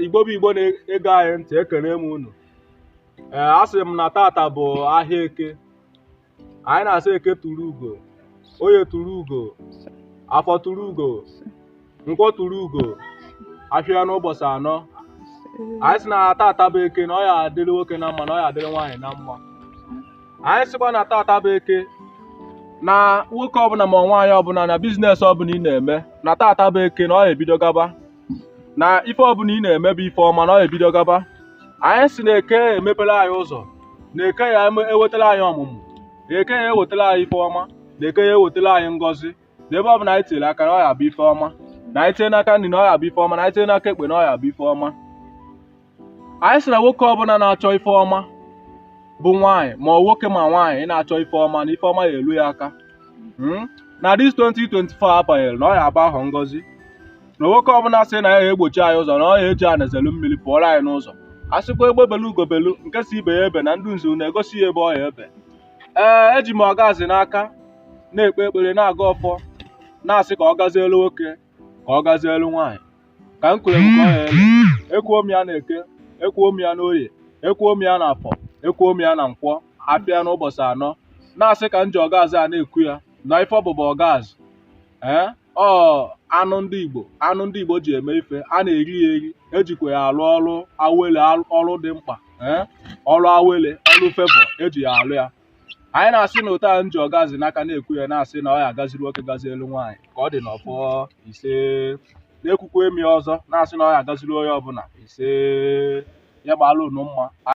igbo bụ igbo na-ege anyị ntị ekene m unu ee a sị m na tata bụ ahịa eke anyị na-asị eke turu ugo oye turu ugo afọ turu ugo nkwọ turu ugo afịa n'ụbọsị anọ anyị sị na tata bụ eke na ọ ya adịrị nwoke na mma na ọ ya adịrị nwaanyị na mma anyị sịkwa na tata bụ eke na nwoke ọbụna ma nwaanyị ọbụna na business ọbụna ị na-eme na tata bụ eke na ọ ya ebido gaba na ife ọbụna ị na-eme bụ ife ọma na ọ ya ebido gaba anyị sị na eke emepere anyị ụzọ na eke ya ewetara anyị ọmụmụ na eke ya ewetara anyị ife ọma na eke ya ewetara anyị ngọzi na ebe ọbụna anyị tinyere aka na ọ ya abụ ife ọma na anyị tinye n'aka nni na ọ ya abụ ife ọma na anyị tinye n'aka ekpe na ọ ya abụ ife ọma anyị sị na nwoke ọbụna na-achọ ife ọma bụ nwaanyị ma nwoke ma nwaanyị ị na-achọ ife ọma na ife ọma ya elu ya aka na this 2024 a banyere na ọ ya abụ ahọ ngọzi na nwoke ọbụna sị na ya egbochi anyị ụzọ na ọ ya eji ana zelu mmiri pụọrọ anyị n'ụzọ a sịkwa egbe belu ugo belu nke sị ibe ya ebena ndị nzu na-egosi ya ebe ọ ya ebe ee eji m ọgazi n'aka na-ekpe ekpere na-agọ ọfọ na-asị ka ọ gazielu nwoke ka ọ gazielu nwaanyị ka m kwuru ekwu ka ọ ya ere ekwuo m ya na eke ekwuo m ya n'oye ekwuo m ya na afọ ekwuo m ya na nkwọ afịa n'ụbọsị anọ na-asị ka m ji ọgazi a na-ekwu ya na ife ọ bụ bụ ọgazi ee ọ anụ ndị igbo anụ ndị igbo ji eme ife a na-eri ya eri ejikwa ya alụ ọrụ awele al- ọrụ dị mkpa ee ọrụ awele ọrụ favour eji ya alụ ya anyị na-asị na otu a m ji ọgazi n'aka na-ekwu ya na-asị na ọ ya agaziri nwoke gazielu nwaanyị ka ọ dị n'ọfọ ise na-ekwukwa m ya ọzọ na-asị na ọ ya agaziri onye ọbụna ise ya gbalụ unu mma